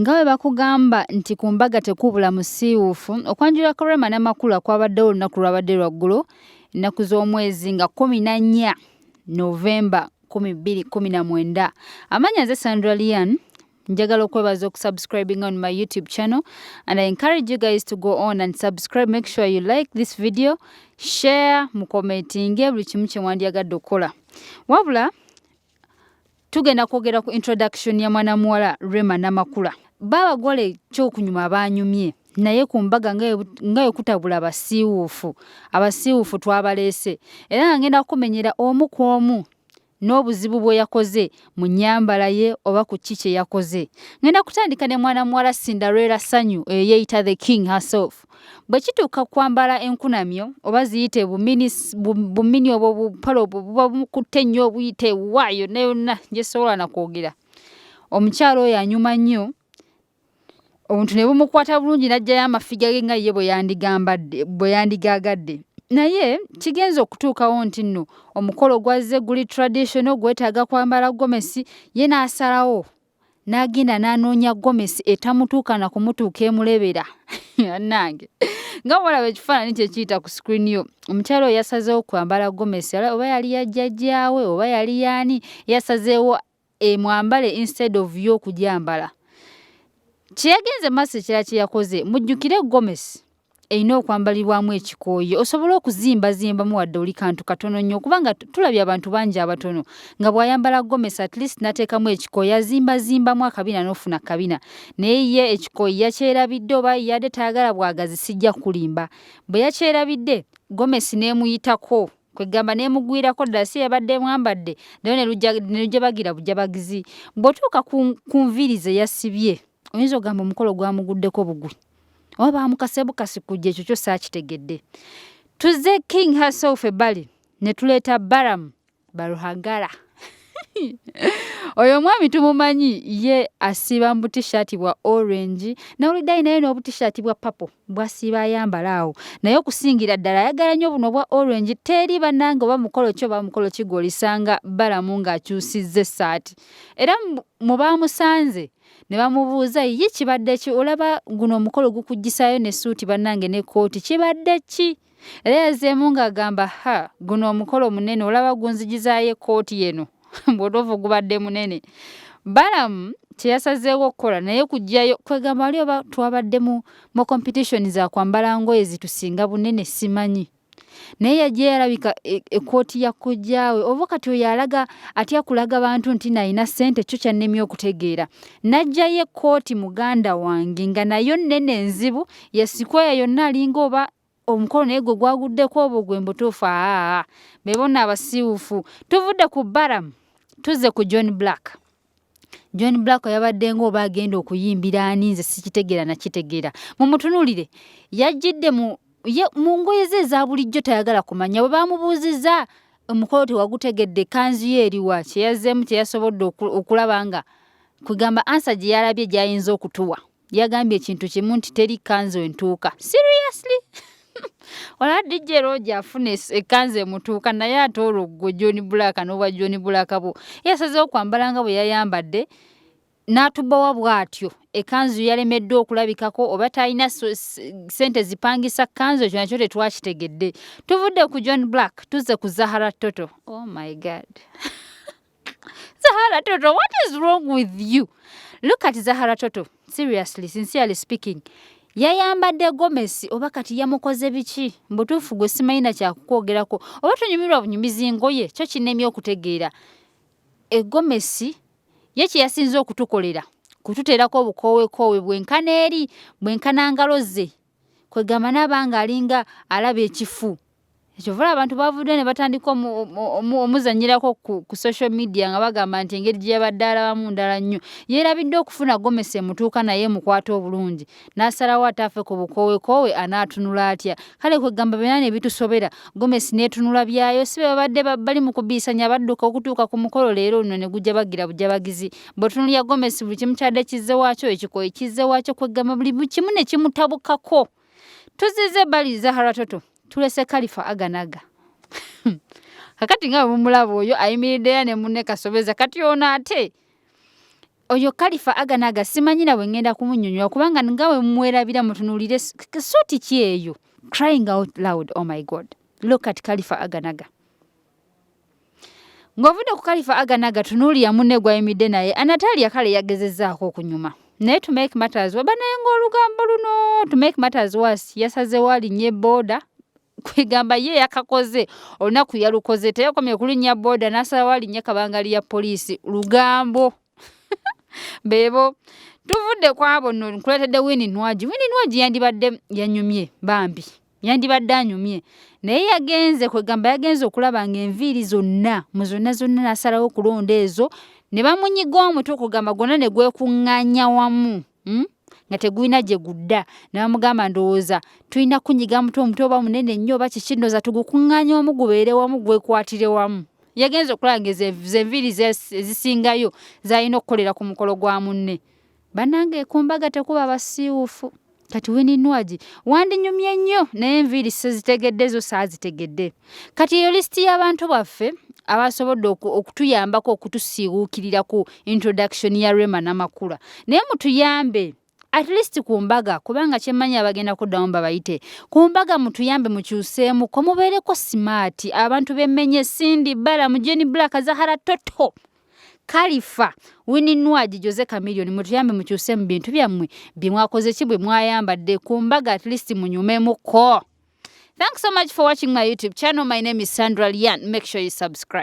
Nga bwe bakugamba nti ku mbaga tekubula musiiwuufu, okwanjula kwa Rema n'amakula kwabaddewo olunaku lwabadde lwa ggulo ennaku z'omwezi nga kkumi na nnya Novemba kkumi bbiri kkumi na mwenda. Amanya nze Sandra Lian. Njagala okwebaza okusubscribinga on my YouTube channel and I encourage you guys to go on and subscribe. Make sure you like this video, share, mukomentinge buli kimu kye wandyagadde okukola. Wabula tugenda kwogera ku introduction ya mwana muwala Rema Namakula babagole kyokunyuma banyumye naye ku mbaga nga yokutabula abasiiwuufu abasiiwuufu twabaleese era nga ngenda kukumenyera omu ku omu n'obuzibu bwe yakoze mu nyambala ye oba ku ki kye yakoze ngenda kutandika ne mwana muwala cinderella sanyu eyeeyita the king herself bwe kituuka ku kwambala enkunamyo oba ziyite bumini obwo bupale obwo buba bukutte nnyo obuyite wa yonna yonna gyesobola na kwogera omukyala oyo anyuma nnyo omuntu ne bumukwata bulungi n'ajjayo amafiga ge nga ye bwe yandigaagadde naye kigenza okutuukawo nti nno omukolo gwazze guli traditional gwetaaga kwambala gomesi ye n'asalawo n'agenda n'anoonya gomesi etamutuuka na kumutuuka emulebera bannange nga bwolaba ekifaananyi kye kiyita ku sikirini yo omukyala oyo yasazeewo kwambala gomesi oba yali yajjajjaawe oba yali yaani yasazeewo emwambale instead of yo okugyambala kye yagenze maaso ekirala kye yakoze mujjukire gomesi erina okwambalirwamu ekikooyi osobole okuzimbazimbamu wadde oli kantu katono nnyo kubanga tulabye abantu bangi abatono nga bw'ayambala gomesi at least n'ateekamu ekikooyi azimbazimbamu akabina n'ofuna kabina naye ye ekikooyi yakyerabidde oba yade tayagala bwagazi sijja kulimba bwe yakyerabidde gomesi n'emuyitako kwegamba n'emugwirako ddala si yabadde mwambadde nayo ne lujja bagira bujabagizi bw'otuuka ku nviiri ze yasibye oyinza ogamba omukolo gwamuguddeko bugwi oba bamukase bukasi kujja ekyo kyo saakitegedde tuze king herself ebbali ne tuleeta baram baruhagara oyo omwami tumumanyi ye asiba mu butishati bwa orange nawuliddayi naye n'obutishati bwa papo bwasiba ayambala awo naye okusingira ddala ayagala nnyo buno obwa orange teri bannange oba mukolo ki oba mukolo kigwolisanga balamu ng'akyusizza essaati era mu baamusanze ne bamubuuza ye kibadde ki olaba guno omukolo gukuggisaayo ne suuti bannange ne kkooti kibadde ki era yazeemu ng'agamba ha guno omukolo munene olaba gunzigizaayo ekkooti yeno mbutuufu gubadde munene balamu kyeyasazeewo okukola naye kujjayo kwegamba wali oba twabadde mu mu competition za kwambala ngoye zitusinga bunene simanyi naye yajja yalabika e, ekkooti ya kojjaawe oba kati oyo alaga atya kulaga bantu nti nalina ssente kyo kyannemye okutegeera najjayo ekkooti muganda wange nga nayo nnene enzibu yesikweya yonna alinga oba omukolo naye gwe gwaguddeko obwo gwe mbutuufu aa bebona abasiiwufu tuvudde ku baramu tuzze ku john black John Black yabadde ng'oba agenda okuyimbira ani nze sikitegeera nakitegeera mumutunuulire yajjidde mu ye mu ngoye ze eza bulijjo tayagala kumanya bwe baamubuuzizza omukolo tewagutegedde ekkanzu ye eriwa kye yazzeemu kye yasobodde okulaba nga kwegamba ansa gye yalabye gy'ayinza okutuwa yagambye ekintu kimu nti teri kanzu entuuka seriously olaba dj roja afuna ekanzu emutuuka naye ate olwo gwe john black n'obwa john black bwo yasazeho kwambala nga bwe yayambadde n'atubawa bw'atyo ekanzu yalemeddwa okulabikako oba talina sente zipangisa kanzu ekyo nakyo tetwakitegedde tuvudde ku john black tuzze ku zahara toto oh my god Zahara Toto, what is wrong with you? Look at Zahara Toto. Seriously, sincerely speaking. yayambadde gomesi oba kati yamukoze biki mbutuufu gwe simanyi nakyakukwogerako oba tonyumirwa bunyumizi ngoye kyo kinemye okutegeera egomesi ye kyeyasinza okutukolera kututeerako obukoowekoowe bwenkana eri bwenkana ngalo ze kwegamba nabanga alinga alaba ekifu ekyovula abantu bavudde ne batandika omuzanyirako ku social media nga bagamba nti engeri gye yabadde alabamu ndala nnyo yeerabidde okufuna gomesi emutuuka naye emukwata obulungi n'asalawo ataafe ku bukoowekoowe anaatunula atya kale kwegamba byona ne bitusobera gomesi n'etunula byayo si bebabadde bali mu kubiisanya badduka okutuuka ku mukolo leero luno ne gujja bagira bujabagizi bwotunulira gomesi buli kimu kyadde kizze wakyo ekikoyi kizze wakyo kweggamba buli kimu ne kimutabukako tuzize bali zahara toto tulese kalifa aganaga kakati nga bumulaba oyo ayimiriddeya ne munne kasobeza kati ono ate oyo kalifa aganaga simanyi nawe ngenda kumunyonyola kubanga nga we mwerabira mutunulire suuti ki eyo crying out loud oh my god look at kalifa aganaga Ng'ovudde ku Kalifa Aganaga tunuulira munne gw'ayimidde naye Anatalia kale yagezezzaako okunyuma naye to make matters waba naye ng'olugambo luno to make matters was yasazewo alinnye booda kwegamba ye yakakoze olunaku yalukoze teyakomye kulinnya booda n'asalawo alinnye kabangali ya poliisi lugambo beebo tuvudde kwabo no nkuletedde wini nwagi wini nwagi yandibadde yanyumye bambi yandibadde anyumye naye yagenze kwegamba yagenze okulaba nga enviiri zonna mu zonna zonna nasalawo okulonda ezo ne bamunyiga omutwe okugamba gwonna ne gwekuŋŋanya wamu hmm? nga tegulina gye gudda ne bamugamba ndowooza tulina kunyiga mutwe omutwe oba munene nnyo oba kiki ndowooza tugukuŋŋanya wamu gubeere wamu gwekwatire wamu yagenze okulaba nga zenviiri ezisingayo zalina okukolera ku mukolo gwa munne Banange kumbaga tekuba basiiwufu. Kati Winnie Nwagi wandinyumye nnyo naye enviiri sizitegedde zo saazitegedde. Kati eyo lisiti y'abantu baffe abasobodde okutuyambako okutusiiwuukirira ku introduction ya Rema Namakula. Naye mutuyambe at least ku mbaga kubanga kyemmanyi abagenda kuddamu babayite ku mbaga mutuyambe mukyuseemu ko mubeereko simaati abantu bemmenye sindi bala mujeni black zahara toto kalifa wininwagi jose camilion mutuyambe mukyuse mu bintu byammwe bye mwakoze ki bwe mwayambadde ku mbaga at least munyumemuko thanks so much for watching my youtube channel my name is sandra lian make sure you subscribe